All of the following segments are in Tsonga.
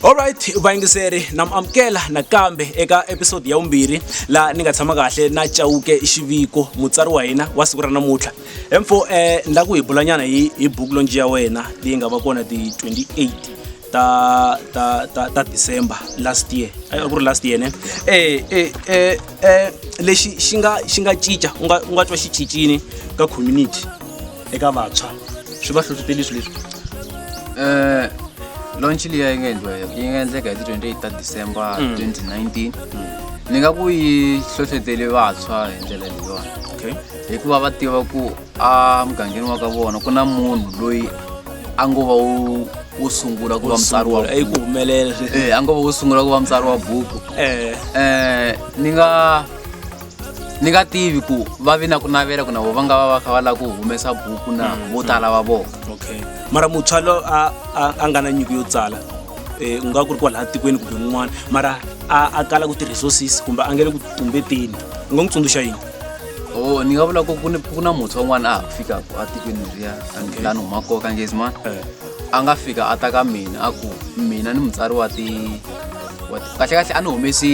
alright vayingiseri na mi amukela nakambe eka episode ya vumbirhi laha ni nga tshama kahle na chawuke xiviko mutsari wa hina wa siku ra namuntlha emfo um eh, ni la ku hi bulanyana hi hi buku lonji ya wena leyi nga va kona ti-28 ta ta ta ta december last year a ku ri last year ne eh eh eh, eh lexi xi nga xi nga cinca u nga u nga twa xi cincini ka community eka vantshwa swi va hlohloteli swilo leswi eh launch liya yi nga endliwa yi nga endleka hi ti 28 ta december 2019 mm. ni nga ku yi hlohloteli vantshwa hi ndlela leyiwani okay hikuva va tiva ku a mugangeni wa ka vona ku na munhu loyi a ngo va wo sungula ku va mutsari wa ku humelela eh a ngo va wo sungula ku va mutsari wa buku eh eh ni nga ni nga tivi ku va vi na ku navela ku na vo va nga va va kha va la ku humesa buku na mm, vo mm. tala va vona okay mara mutshwa lo a a nga na nyiko yo tsala eh u nga ku ri kwala tikweni kumbe un'wana mara a a kala ku ti resources kumbe a ngele ku tumbeteni u nga n'wi tsundzuxa yini o oh, ni nga vula ku ku na muntshwa un'wana a ha ku fikaka a tikweni leriya lani huma koka ngezimana eh. a nga fika a ta ka mina a ku mina ni mutsari wa ti kahlekahle a ni humesi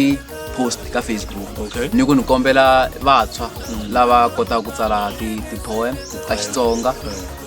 post ka facebook ni ku ni kombela vantshwa mm. lava kotaka ku tsala ti-poem ta xitsonga eh.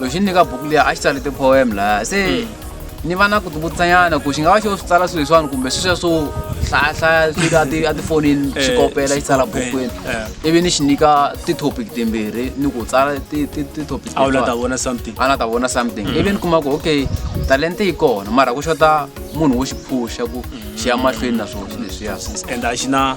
loko xi ni nyika buku liya a xi tsale ti-poem laya se hmm. ni va na ku tivutisanyana ku xi nga va xo swi tsala swilo leswiwani kumbe sweswiya swo hlayahlaya swilo atifonini eh, xi kopela xi tsala bukwini eh. ivi ni xi nyika ti-topic timbirhi ni ku tsala ti-topicana ta vona something hmm. ivi ni kuma ku okay talente yi kona mara ku xota munhu wo xi phuxa ku xi ya mahlweni na swona swileswiya and a xi na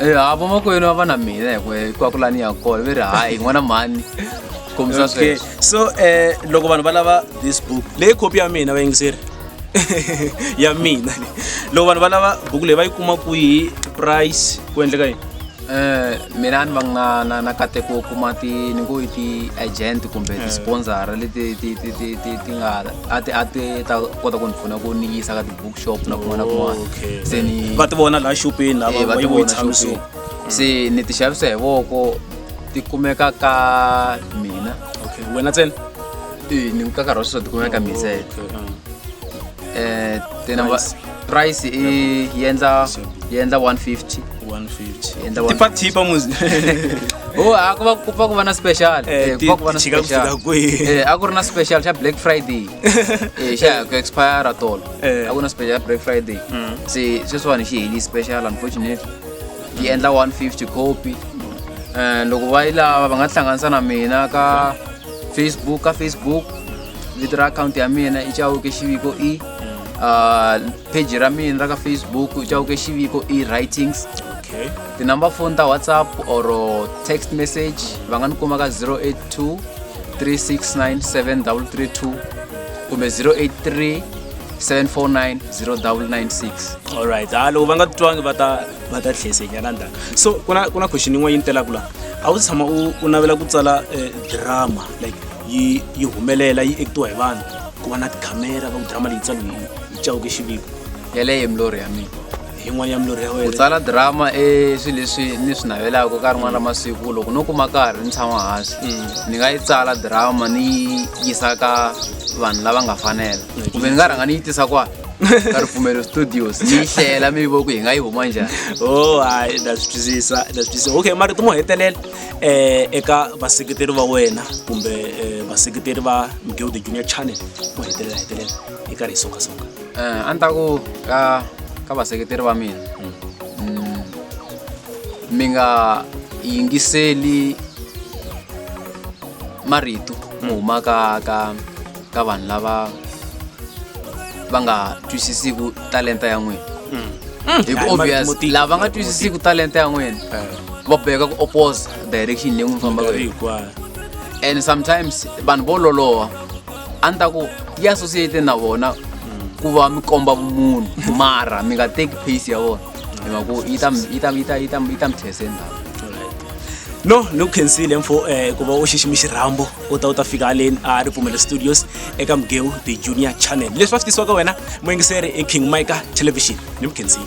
Eh, avo makwenu ava na mina hikwe kwakulani ya kona ve ri hayi hi n'wana mhani kombisa okay sweswo so eh loko vanhu va lava this book leyi khopi ya mina vayingiseri ya mina le loko vanhu va lava buku leyi va yi kuma kwihi price ku endleka yini Eh, mina ni va nga na na kateko wo kuma ti ni ngo i ti-agent kumbe ti-sponsor leti ti ti ti ti ti nga a ti a ti ta kota ku ni pfuna ku ni yisa ka ti bookshop na kun'wana na kun'wana Okay. se ni va ti vona laha xopeni Eh, lava va va ti yi vona tshami so xopeni. se ni ti xavisa hi voko ti kumeka ka mina okay wena ntsena Eh, ni ka nkarhi wa sweswo ti kumeka ka mina se Okay, ah. eh ti number Price. price i yi endla Sure. yi endla 150 150 Endla one- tipa tipa muzi oh a ku va ku va ku va na special Eh, Eh, ku ti- va ku va na ti chika ku fika special kwihi? Eh, a ku ri na special xa black friday Eh, xa ha ku expire tolo Eh. a ku na special black friday se sweswiwani xi heli special unfortunately yi endla 150 copy Eh, loko va yi lava va nga tihlanganisa na mina ka facebook ka facebook vito ra akhawunti ya mina i chawuke xiviko e Ah, page ra mina ra ka facebook i chawuke xiviko e writings okay tinumber phone ta whatsapp or text message va nga ni kuma ka 082 3697332 kumbe 083 749 alright ha ah, loko va nga titwangi va ta va ta tlhesenyana ndzhaku so ku na ku na question yin'wana yi ni telaka laha a wu tshama u u navela ku tsala eh, drama like yi yi humelela yi ekitiwa hi vanhu ku va na tikhamera va ku drama leyi tsalo yi cawuke xiviko yeleyo milorho ya mina yin'wana ya milorho ya wena ku tsala drama i swilo leswi ni swi navelaka ka rin'wana ra masiku loko no kuma karhi ni tshama hansi mm. ni nga yi tsala drama ni yisa ka vanhu lava nga fanela kumbe ni nga rhanga ni yi tisa kwa ka ripfumelo studios ni yi hlela mi vo ku hi nga yi huma njhani o oh, hayi na swi twisisa na swi twisisa okay marito mo hetelela um eka vaseketeri va wena kumbe um vaseketeri va migeo the junior channel mo hetelela hetelela hi karhi hi songasonga Eh, a ni ta ku ka ka vaseketeri va mina mm, mi nga yingiseli marito mo huma ka ka ka vanhu lava va nga twisisiku talenta ya n'wina hi ku Hayi, obvious motiki, lava nga motiki. twisisiku talenta ya n'wina va boheka ku oppose direction leyi n'wi fambaka hi yona. hinkwayo and sometimes vanhu vo loloha a ni ta ku yi associate na vona ku va mi komba vumunhu mara mi nga teki pace ya vona hi mhaka ku yi ta mi- yi ta mi- yi ta yi ta mi- yi ta mi these ndhawu no ni ku khensile mfo um ku va u xiximi xirhambo u ta u ta fika haleni a ripfumelo studios eka mugeu the junior channel leswi va swi tisiwaka wena muyingiseri i king mika television ni mu khensile